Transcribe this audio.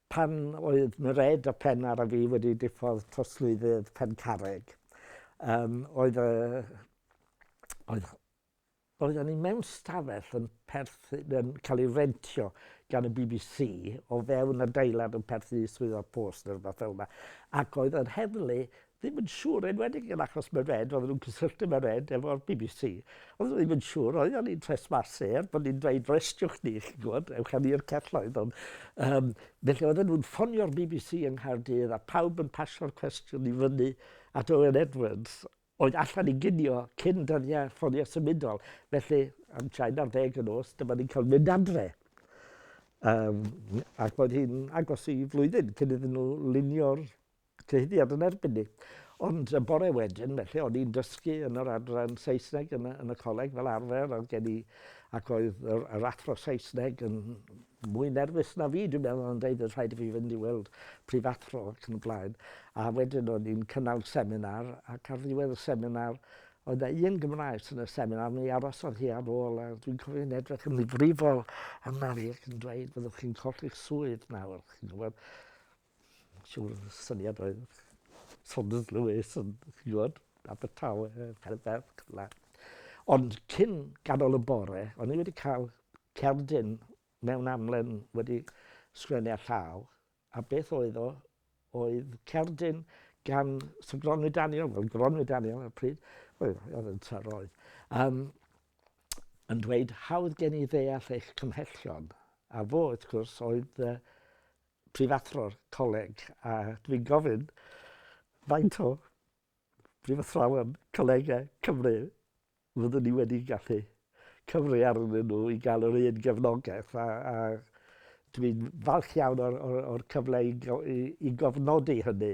Pan oedd Mered a Phennar a fi wedi diffodd trosglwyddydd Pencarreg, yym, oedd y... oedd... oedden ni mewn stafell yn perthyn... yn cael ei rentio gan y bbc o fewn adeilad yn perthyn i Swyddog Post neu rywbeth fel 'na, ac oedd yr heddlu ddim yn siŵr, enwedig yn achos Mairead, oedden nhw'n cysylltu Mairead efo'r bbc. Oedden nhw ddim yn siŵr, oedden ni'n tresmasu, er bod ni'n dweud restriwch ni, chi'n gwybod, ewch â ni i'r celloedd. Ond, um, felly oedden nhw'n ffonio'r bbc yng Nghaerdydd a pawb yn pasio'r cwestiwn i fyny at Owen Edwards, oedd allan i ginio cyn dyddiau ffonio symudol. Felly, am train ar ddeg yn os, dyma ni'n cael mynd adre. Um, ac oedd hi'n agos i flwyddyn cyn iddyn nhw lunio'r cyhuddiad yn erbyn ni. Ond y bore wedyn, felly, o'n i'n dysgu yn yr adran Saesneg yn y, yn y coleg fel arfer, oedd gen i, ac oedd yr, yr athro Saesneg yn mwy nerfus na fi, dwi'n meddwl, yn dweud rhaid i fi fynd i weld prifathro ac yn y blaen. A wedyn o'n i'n cynnal seminar, ac ar ddiwedd y seminar, oedd na un Gymraes yn y seminar, mi arosodd hi ar ôl, a dwi'n cofio'n edrych yn ddifrifol yna fi ac yn dweud, byddwch chi'n colli'ch swydd nawr, chi'n gwybod. Siŵr y syniad oedd Saunders Lewis yn gwybod, Abertawe, Caerdydd, cyfle. Ond cyn ganol y bore, o'n i wedi cael cerdyn mewn amlen wedi sgwennu a llaw, a beth oedd o, oedd cerdyn gan Sir Gronwy Daniel, fel Gronwy Daniel ar y pryd, oedd yn tar oedd, um, yn dweud hawdd gen i ddeall eich cymhellion, a fo, wrth gwrs, oedd uh, prifathro'r coleg a dwi'n gofyn faint o brifathrawon colegau Cymru fyddwn ni wedi gallu cyfri arnyn nhw i gael yr un gefnogaeth a, a dwi'n falch iawn o'r, o'r, o'r cyfle i, i, i gofnodi hynny.